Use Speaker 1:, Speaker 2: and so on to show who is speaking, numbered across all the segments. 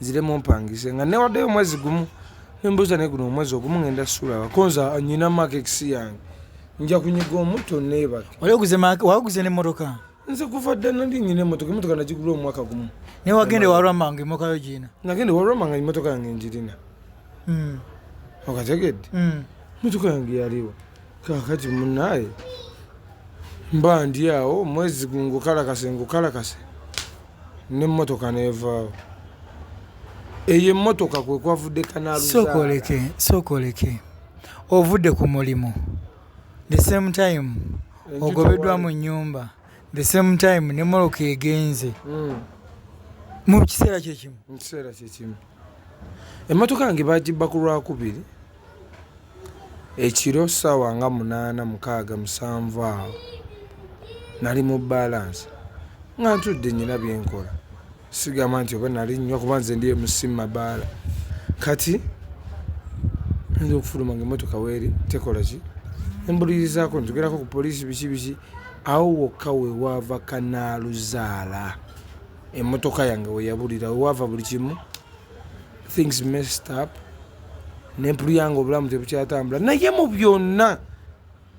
Speaker 1: nzire mumpangise nga newaddeyo omwezi gumu nembuuza naye guno omwezi ogumu ngenda sulaba konza nyina makekisi yange nja kunyiga omuto neebake waguze
Speaker 2: nemotoka nze kuva dda
Speaker 1: nali nyina emotoka emotoka nagigula omwaka gumu naye wagenda ewalwama
Speaker 2: nga emokayo giina nagenda ewalwama nga emotoka
Speaker 1: yange njirina hmm. okategedde hmm. emotoka yange yaliwo kakati munaye mba ndi awo mwezi gungukalakase ngukalakase nemotoka nevaawo eyo emotoka kwekwavudde kanalsokoleke sokoleke
Speaker 2: ovudde ku mulimu the same time ogobeddwa mu nyumba the same time nemoloka egenze mm. mu kiseera kyekimu
Speaker 1: Emmotoka yange baagibba ku Lwakubiri ekiro ssaawa nga munaana mukaaga musanvu awo nali mu baalansi nga ntudde nnyina bye nkola sigamba nti oba nali nnywa kuba nze ndi emusi mu mabaala kati nza okufuluma nga emmotoka weeri tekola ki embulirizaako ntugerako ku poliisi biki biki awo wokka we waava kanaaluzaala. emotoka yange weyabulira wewava buli kimu things messed up nempulu yange obulamu tebukyatambula naye mu byonna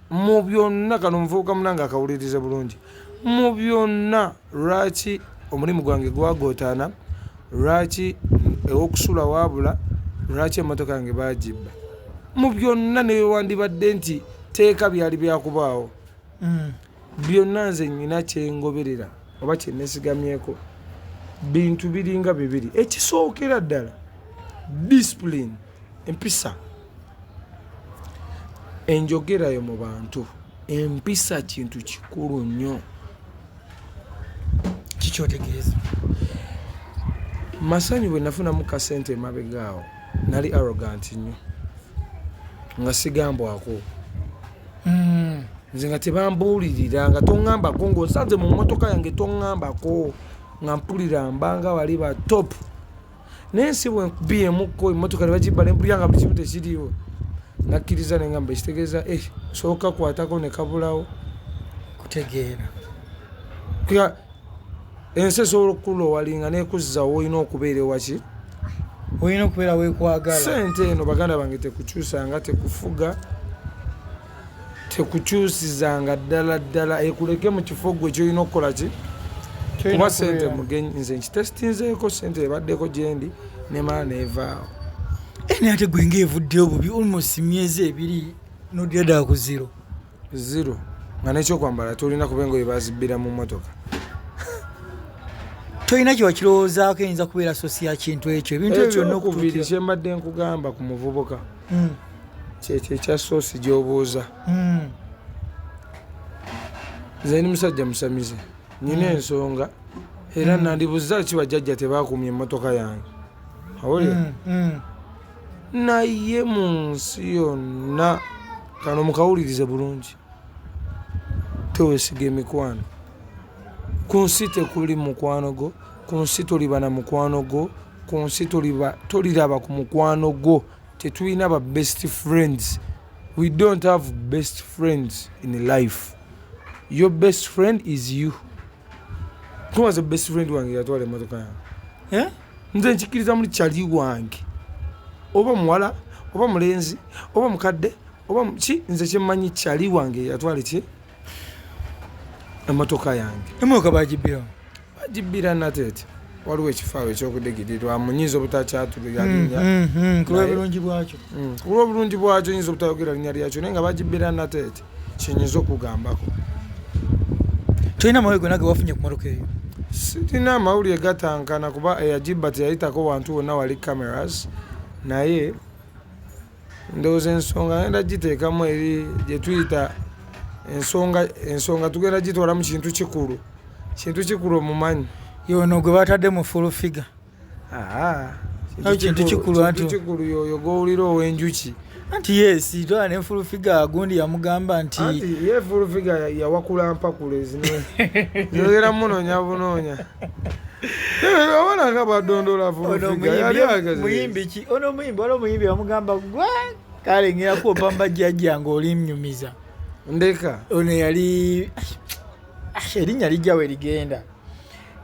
Speaker 1: mu byonna kano omuvubuka munange akawuliriza bulungi mu byonna lwaki omulimu gwange gwagootaana lwaki ewokusula waabula lwaki emotoka yange bagibba mu byonna newewandibadde nti teeka byali byakubaawo mm. Byonna nze nnyina kye ngoberera oba kye nesigamyeko bintu biringa bibiri. Ekisookera ddala discipline, empisa, enjogerayo mu bantu. Empisa kintu kikulu nnyo.
Speaker 2: Kikyotegeeza
Speaker 1: masanyu bwe nafunamu kasente emabegaawo nali arrogant nnyo nga sigambwako. Hmm, nze nga tebambuulirira nga toŋŋambako ng'osanze mu mmotoka yange toŋŋambako nga mpulira mbanga bali ba topu naye si bwenkubyemukko emmotoka ne bagibba ne mpulira nga buli kimu tekiriiwo nakkiriza ne ngamba ekitegeeza e eh, sooka kwatako ne kabulawo kutegeera Ensi esobola okukulowalinga nekuzza woolina okubeera ewaki olina
Speaker 2: okubeera wekwagala sente eno baganda
Speaker 1: bange tekukyusanga tekufuga tekukyusizanga ddala ddala ekuleke mu kifo gwe kyolina okukola ki kuba sente mugenyi nze nkitesitinzeeko sente ebaddeko gyendi nemala nevaawo eni
Speaker 2: ate gwe nga evuddeyo bubi almost myezi ebiri nodira ddala ku ziro zero nga nekyokwambala tolina kuba engoye bazibbira mu motoka tolina kyewakirowoozaako eyinza kubeera sosi ya kintu ekyo ebintu ebyo byonna okubiri kyembadde
Speaker 1: nkugamba ku muvubuka hmm. kyekyo ekya sosi gyobuuza hmm. nze ni musajja musamize nina hmm. ensonga era nandibuza ki bajjajja tebakumya emotoka yange awulira naye mu nsi yonna kano mukawulirize bulungi tewesiga emikwano ku nsi tekuli mukwano gwo ku nsi toliba na mukwano gwo ku nsi toliraba ku mukwano gwo tetulina ba best friends we don't have best friends in life your best friend is you tuwaze best friend wange yatwala emotoka yange eh? nze nkikiriza muli kyali wange oba muwala oba mulenzi oba mukadde oba ki nze kyemmanyi kyali wange yatwale ki emotoka yange emotoka bagibbira
Speaker 2: bagibbira
Speaker 1: nateete waliwo ekifaawo ekyokudigirirwa munyinza obutakyatuluyalinya mm,
Speaker 2: mm, mm, kulwa obulungi
Speaker 1: bwakyo nyinza obutayogera linya lyakyo naye nga bagibbira nateete kyenyiza okugambako
Speaker 2: tolina mawulire gona gewafunye ku motoka eyo sirina amawulire
Speaker 1: gatankana kuba eyagibba teyayitako wantu wonna wali cameras naye ndowooza ensonga genda giteekamu eri gyetuyita ensonga ensonga tugenda gitwala mu kintu kikulu kintu kikulu omumanyi yono gwe batadde
Speaker 2: mu full figure
Speaker 1: kintu
Speaker 2: kikulu anti
Speaker 1: kikulu yoyo gowulira owenjuki
Speaker 2: anti yes tola ne full figure agundi yamugamba nti ye full figure
Speaker 1: yawakula mpakule zino yogera munonya bunonya abalanga badondola full figure yali agaze muyimbi ki ono muyimbi
Speaker 2: wala muyimbi yamugamba gwa kale ngira ko pamba jajja ngoli mnyumiza ndeka
Speaker 1: ono yali
Speaker 2: ah, erinnya lijjawo erigenda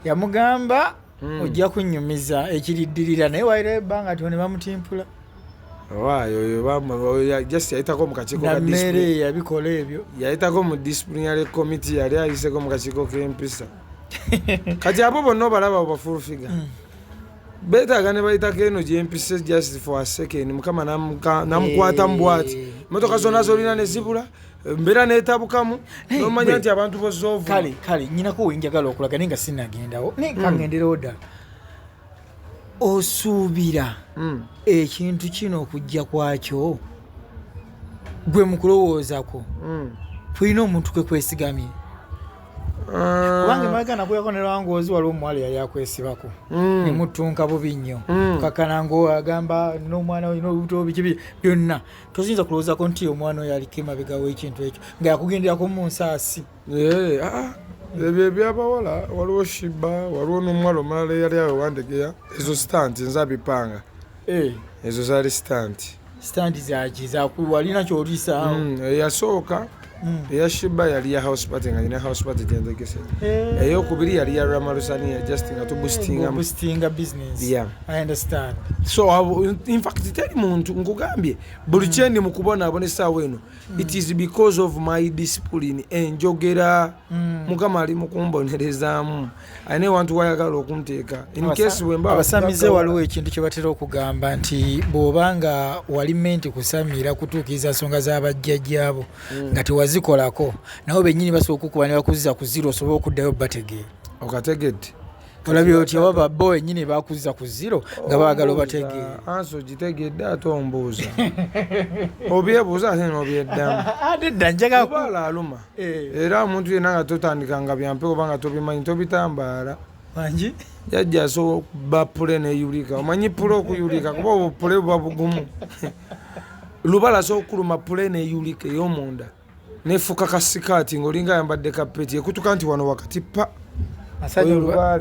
Speaker 2: yamugamba hmm. ojja kunyumiza ekiriddirira naye waira ebbanga tyo ne bamutimpula
Speaker 1: just yayitako mukakikomeere yabikola
Speaker 2: ebyo yayitako mu disciplinary
Speaker 1: committee yali ayiseko mukakiiko kempisa kati abo bonna obalaba bafulfiga hmm. betaaga ne bayitako eno gyempisa just for a second mukama namukwata mubwati eh. motoka zonna zolina nezibula mbeera netabukamu nomanya nti abantu bozoovu kale kale nyinako
Speaker 2: wenjagala okulaga naye nga sinagendawo naye hmm. kangenderewo ddala osuubira hmm. ekintu kino okujja kwakyo gwe mukulowoozako hmm. tulina omuntu kwe kwesigamye ah. kubanga emabega nakuyako nerwangoozi waliwo omuwala yali akwesibako nemutunka bubi nnyo kakana ngaagamba nomwana olina olubuto biki byonna tosinza kulowoozako nti omwana oyo aliko emabega w'ekintu ekyo nga yakugenderako mu nsaasi eh, ah, ah.
Speaker 1: ebyo ebyabawala waliwo shiba waliwo n'omuwala omulala eyali awe wandegeya ezo sitanti nza bipanga eh. ezo zaali sitanti sitanti zaki
Speaker 2: zakuwalina kyolisaa hmm, eyasooka
Speaker 1: Mm. eya shiba yali ya house party nga nyina house party gyenzegese eh. eyokubiri yali ya ramalusania just nga tubustingamustinga
Speaker 2: business yeah. i understand so uh,
Speaker 1: in fact teri muntu nkugambye buli mm. kyendi mukubonaabona esaawa eno mm. it is because of my discipline enjogera mm. mukama ali mukumbonerezaamu alina ewantu wayagala okunteeka abasamize waliwo ekintu
Speaker 2: kyebatera okugamba nti bwoba nga wali menti kusamiira kutuukiriza nsonga zabajjajjaabo hmm. nga tewazikolako nabo benyini basobola okukuba nebakuziza ku ziro osobole okuddayo bategeera okategedde
Speaker 1: olabye
Speaker 2: otya baba bo wenyini bakuziza ku ziro nga baagala obategeera ansi ogitegedde
Speaker 1: ate ombuuza obyebuuza ate nobyeddamu ate dda
Speaker 2: njagaluma
Speaker 1: Eh. era omuntu yenna nga totandika nga byampe oba nga tobimanyi tobitambaala mangi
Speaker 2: jajja asobola
Speaker 1: okuba pule neyulika omanyi pule okuyulika kuba obwo pule buba bugumu lubala asobola okuluma pule neyulika eyomunda nefuka kasikaati ngaolinga ayambadde kapeti ekutuka nti wano wakati pa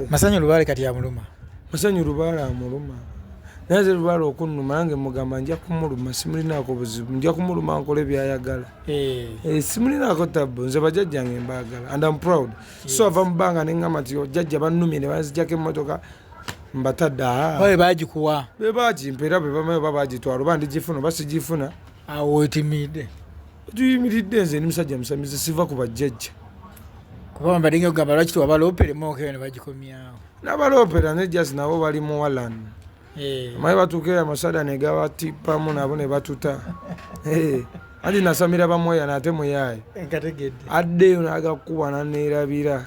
Speaker 2: masanyu lubaale kati amuluma masanyu lubaale
Speaker 1: amuluma naye ze lubaale okunuma nange mugamba nja kumuluma simulinaako buzibu nja kumuluma nkola ebyayagala Eh. Eh, simulinako tabbu nze bajajjange mbagala and am proud so ava mu bbanga ne ŋŋamba nti jajja bannumye ne banzijako emmotoka mbatadde ah. babe bagikuwa
Speaker 2: be bagimpa era
Speaker 1: be bamayo ba bagitwala oba ndigifuna oba sigifuna awo wetimiidde
Speaker 2: tuyimiridde
Speaker 1: nze ndi musajja musamize siva ku bajjajja kuba
Speaker 2: mbadde nga ogamba lwaki tewabaloopere mookera ne bagikomyawo nabaloopera ne
Speaker 1: jasi nabo bali mu walani eh. maye batuuka amasada negabatippamu nabo ne batuta eh. anti nasamira bamweya nate muyaaye addeyo nagakuba naneerabira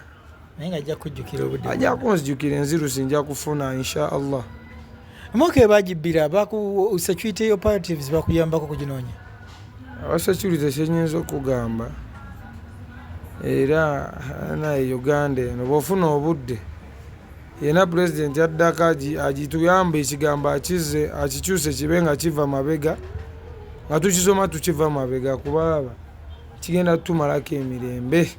Speaker 2: ajja kunzijukira
Speaker 1: enzirusi nja kufuna insha allah mwaka
Speaker 2: ebagibbira security operatives bakuyambako kuginoonya abasecurity
Speaker 1: kyenyinza okugamba era naye uganda eno bwofuna obudde Yena president addako agituyambe ekigambo akizze akikyuse kibe nga kiva mabega nga tukisoma tukiva mabega kubaaba kigenda tutumalako emirembe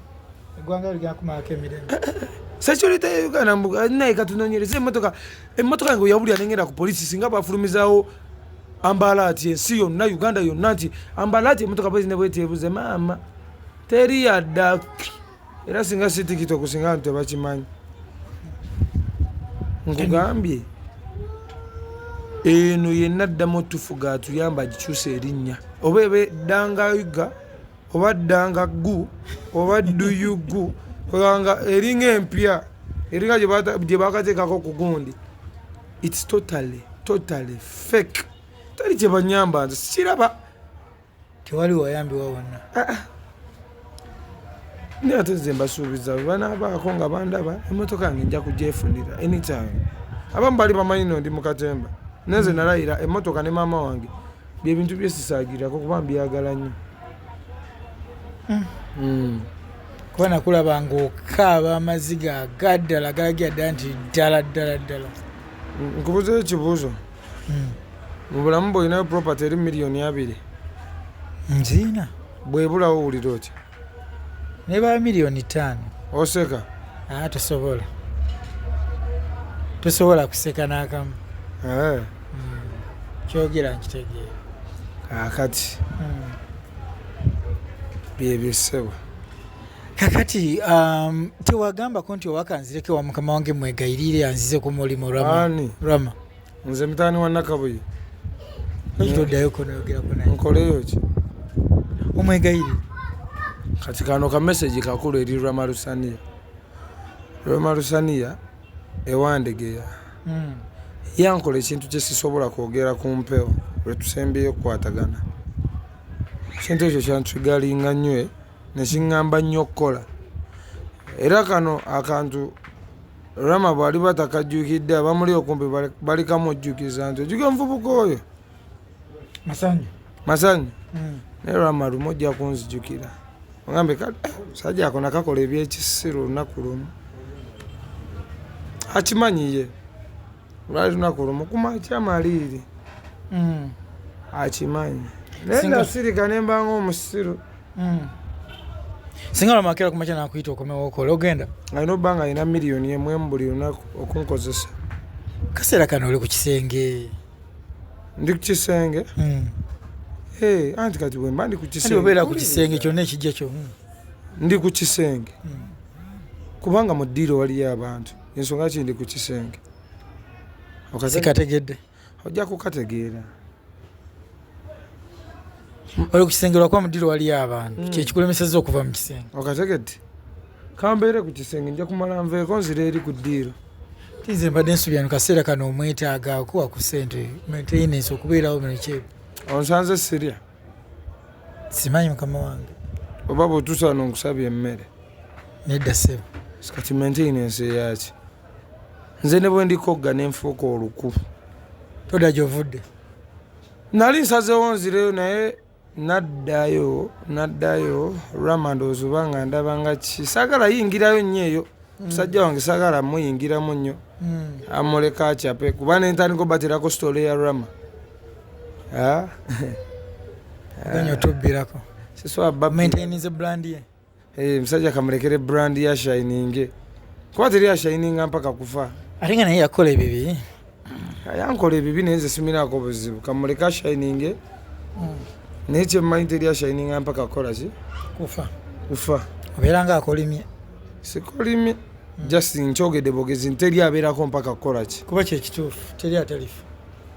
Speaker 2: security
Speaker 1: ya uganda mbu naye katunonyereza emotoka emotoka yange oyabulira nengenda ku polisi singa bafulumizawo ambala ati ensi yonna uganda yonna nti ambala ati emotoka bwezinebwetebuze maama teri yadda era singa si tiktok singa bantu tebakimanyi nkugambye eno yenna ddamu otufuga atuyamba agikyusa erinnya oba eba eddangayuga oba ddanga gu oba dduyugu kubanga eringa empya eringa gye bakateekako okugundi its totally totally fake tali kyebanyamba nze sikiraba tewali
Speaker 2: wayambibwa wonna ah,
Speaker 1: ah. naye ate nze mbasuubiza bwe banaabaako nga bandaba emmotoka yange nja kugyefunira anytime abamu bali bamanyi no ndi mu katemba naye nze nalayira emmotoka ne maama wange byebintu byesisaagirako kuba mbyagala nnyo hmm.
Speaker 2: Hmm. kuba nakulaba ngaokaaba amaziga agaddala galagira ddala nti ddala ddala ddala
Speaker 1: nkubuzeyo ekibuuzo hmm. mu bulamu bwolinayo property eri miliyoni abiri
Speaker 2: nziina bwebulawo
Speaker 1: owulira otya naye ba
Speaker 2: miliyoni ttaano oseka
Speaker 1: aa ah, tosobola
Speaker 2: tosobola kuseka n'akamu eh.
Speaker 1: hmm.
Speaker 2: kyogera nkitegeera kakati
Speaker 1: hmm. byebyo ssebo kakati
Speaker 2: um, tewagambako nti owakanzireko wa mukama wange mwegayirire anzize ku mulimu rama nze mutani wa
Speaker 1: nakabuye
Speaker 2: nkoleyo ki omwegayire
Speaker 1: kati kano ka message kakulu eri rwamalusaniya rwamalusaniya ewandegeya hmm. yankola ekintu kyesisobola kwogera ku mpewo lwetusembyeyo okukwatagana ekintu ekyo kyantugalinga nnyo eh, nekiŋŋamba nnyo okukola era kano akantu Rama bw'aliba takajjukidde abamuli okumpi balikamujjukiza nti ojjuka omuvubuka oyo masanyu masanyu hmm. naye Rama lumu ojja kunzijukira ogambe kale eh, musajja ako nakakola ebyekisiru olunaku lumu akimanyiye lwali lunaku lumu kumakya maliiri mm. akimanyi naye nasirika nembanga omusiru mm.
Speaker 2: singa lwamakera kumakya nakuyita okomewo okola ogenda alina obba nga alina
Speaker 1: miliyoni emwemu buli lunaku okunkozesa kaseera
Speaker 2: kano oli ku kisenge
Speaker 1: ndi ku kisenge mm. eh, anti kati bwemba ndi kukisengeobeera ku kisenge kyonna
Speaker 2: ekijja kyo ndi ku
Speaker 1: kisenge kubanga mu ddiiro waliyo abantu Ensonga kindi ku kisenge. Sikategedde.
Speaker 2: Ojja kukategeera. Oli ku kisenge lwakuba mu ddiiro waliyo abantu. Hmm. Kyekikulemesezza okuva mu kisenge. Okategedde.
Speaker 1: Kambeere ku kisenge nja kumala nveeko nzira eri ku ddiiro. Tinze mbadde
Speaker 2: nsubira mu kaseera kano omwetaaga okuwa ku ssente maintenance okubeerawo mu lukyebe. Onsanze sirya. Simanyi mukama wange. Oba bw'otuusa
Speaker 1: wano nkusabye emmere? Nedda
Speaker 2: ssebo. Kati maintain
Speaker 1: ensi eyaki? Nze ne bwe ndikogga ne nfuuka oluku. Todda
Speaker 2: gy'ovudde? Nali
Speaker 1: nsazeewo nzireyo naye naddayo naddayo rama ndowooza oba nga ndaba nga ki saagala yingirayo nnyo eyo hmm. musajja wange saagala muyingiramu nnyo hmm. amuleka acape kuba nentandika obaterako sitole ya rama Ah.
Speaker 2: Ogenye otubbirako. Siswa bba maintainize
Speaker 1: brand ye.
Speaker 2: Eh, musajja
Speaker 1: kamulekere brand ya shining. Kuba teri ya shining mpaka kufa. Ate nga naye yakola
Speaker 2: ebibi. Yankola
Speaker 1: ebibi naye nze simirako buzibu. Kamuleka shining. Mm. Naye kye mmanyi teri ya shining mpaka kukola ki? Kufa. Kufa. Obeera nga
Speaker 2: akolimye. Sikolimye.
Speaker 1: Mm. Just nkyogedde bogezi nteri abeerako mpaka kukola ki? Kuba kye kituufu
Speaker 2: teri atalifa.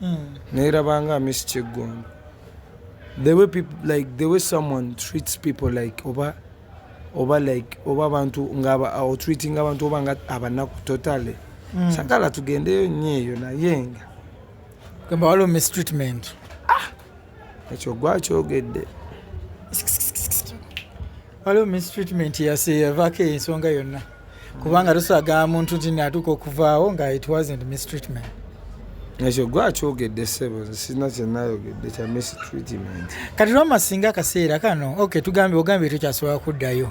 Speaker 1: mm. nerabanga miss kiggundu the way people like the way someone treats people like oba oba like oba abantu nga uh, treating abantu oba nga abanaku totally mm. sagala tugendeyo nyo eyo naye nga gamba
Speaker 2: waliwo mistreatment ah!
Speaker 1: ekyo gwakyogedde
Speaker 2: waliwo mistreatment yaseyavako ensonga yonna kubanga tuswaga muntu nti natuuka okuvaawo nga it wasn't mistreatment ekyo
Speaker 1: gwakyogedde sebo sirina kyenayogedde kya mistreatment kati lwama singa
Speaker 2: akaseera kano ok tugambye ogambye tekyasobola kuddayo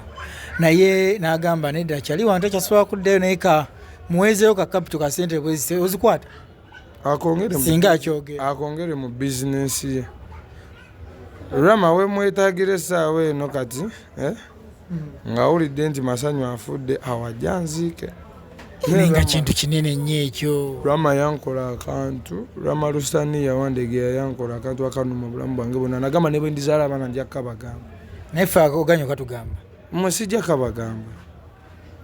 Speaker 2: naye nagamba nedda kyali wantu ekyasobola kuddayo naye ka muwezeyo ka kapito ka sente bwezise ozikwata singa akyogera akongere mu
Speaker 1: bizinensi ye rama wemwetagira esaawa eno kati eh? ng'awulidde nti masanyu afudde awajja nziike nga
Speaker 2: kintu kinene nnyo ekyo rama yankola
Speaker 1: akantu rama lusani yawandegeya yankola akantu akanuma obulamu bwange bonna nagamba ne bwe ndizaala abaana nja kukabagamba naye fe
Speaker 2: oganya okatugamba mwe sijja
Speaker 1: kabagamba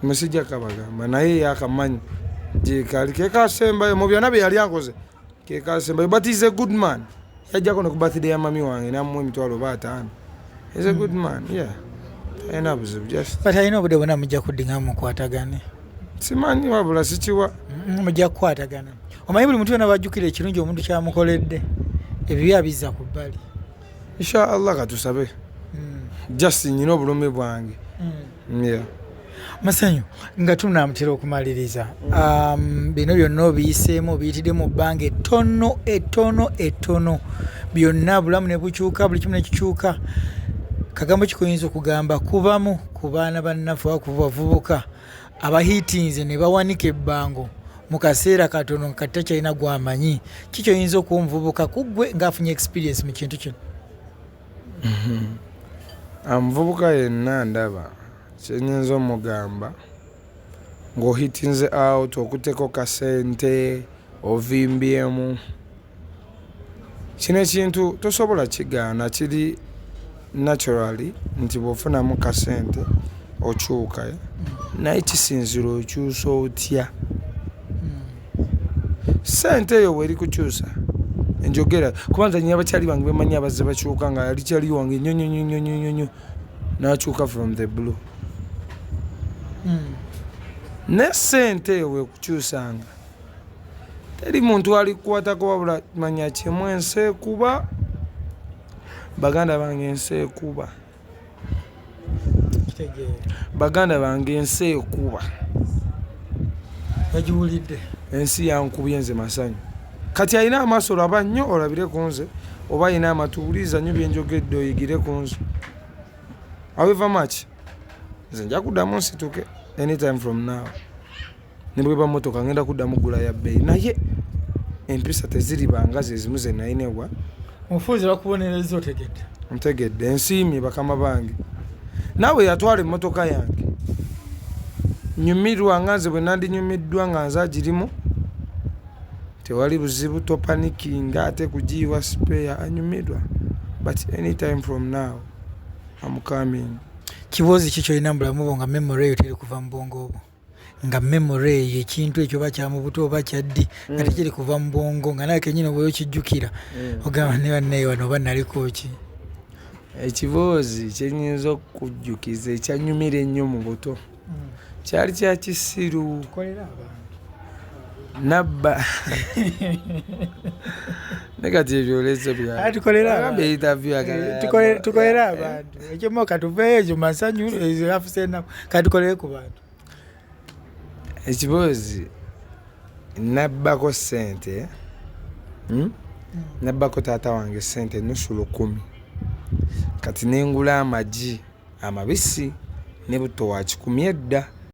Speaker 1: mwe sijja kabagamba naye yakamanyi gyekali kekasembayo mu byonna bye yali ankoze kekasembayo but is a good man yajjako ne ku birthday ya mami wange namuwa emitwalo oba ataano is a good man yeah talina buzibu just but alina obudde bwona mujja
Speaker 2: kuddinga mukwatagane simanyi
Speaker 1: wabula sikiwa mm, mujja kukwatagana
Speaker 2: omanyi buli muntu yona bajjukira ekirungi omuntu kyamukoledde ebibi abizza ku bbali inshallah
Speaker 1: katusabe mm. just nyina obulumi bwange mm. yeah. masanyu
Speaker 2: nga tunamutera okumaliriza um, bino byonna obiyiseemu obiyitidde mu bbanga ettono ettono ettono byonna bulamu ne bukyuka buli kimu nekikyuka kagambo kikuyinza okugamba kubamu ku baana bannaffe oba ku bavubuka abahiitinze ne bawanika ebbango mu kaseera katono nga kati takyalina gwamanyi kikyoyinza okuwa omuvubuka kuggwe ng'afunye experience mu kintu kino
Speaker 1: Omuvubuka yenna ndaba kye nnyinza omugamba ng'ohiitinze awutu okutteko ka ssente, ovimbyemu, kino ekintu tosobola kigaana kiri naturally nti bw'ofunamu ka ssente okyuka naye kisinziira okyusa otya. sente eyo weri kukyusa enjogera kuba nze nyina bakyali bange bemanyi abazze bakyuka nga yali kyali wange nyonyonyonyonyonyo nakyuka from the blue hmm. ne sente eyo wekukyusanga teri muntu alikukwatako wabula manya kyemu ensi ekuba baganda bange ensi ekuba Baganda bange ensi ekuba.
Speaker 2: Bagiwulidde. Ensi yankubye nze masanyu.
Speaker 1: Kati alina amaaso laba nnyo olabire ku nze oba alina amatu wuliriza nnyo bye njogedde oyigire ku nze. However much, nze nja kuddamu nsituke anytime from now. ne bweba mmotoka ngenda kuddamu ggula ya bbeeyi naye empisa teziribanga zezimu ze nalina ewa omufuuzi
Speaker 2: bakubonereza otegedde ntegedde ensiimye
Speaker 1: bakama bange naawe yatwala emmotoka yange nyumirwa nga nze bwe nandinyumiddwa nga nze agirimu tewali buzibu topanikinga ate kugiyiwa sipeya anyumirwa but anytime from now am coming kibozi ki
Speaker 2: kyolina mubulamu bwo nga memory eyo teri kuva mu bwongo obwo nga memory eyo ekintu ekyo oba kyamubuto oba kyaddi nga mm. tekiri kuva mu bwongo nga naye kenyini oba okijjukira mm. ogamba ne bannaye wano oba naliko ki
Speaker 1: ekiboozi kyenyinza okujjukiza ekyanyumira ennyo mu buto mm. kyali kyakisiru nabba nekati ebyolese byatukolera
Speaker 2: abantu ekyomo katuveyo ekyo masanyu afuse enaku katukolere ku bantu ekiboozi
Speaker 1: nabbako sente hmm? nabbako taata wange sente nusu lukumi kati nengula amagi amabisi ne butto wa kikumi edda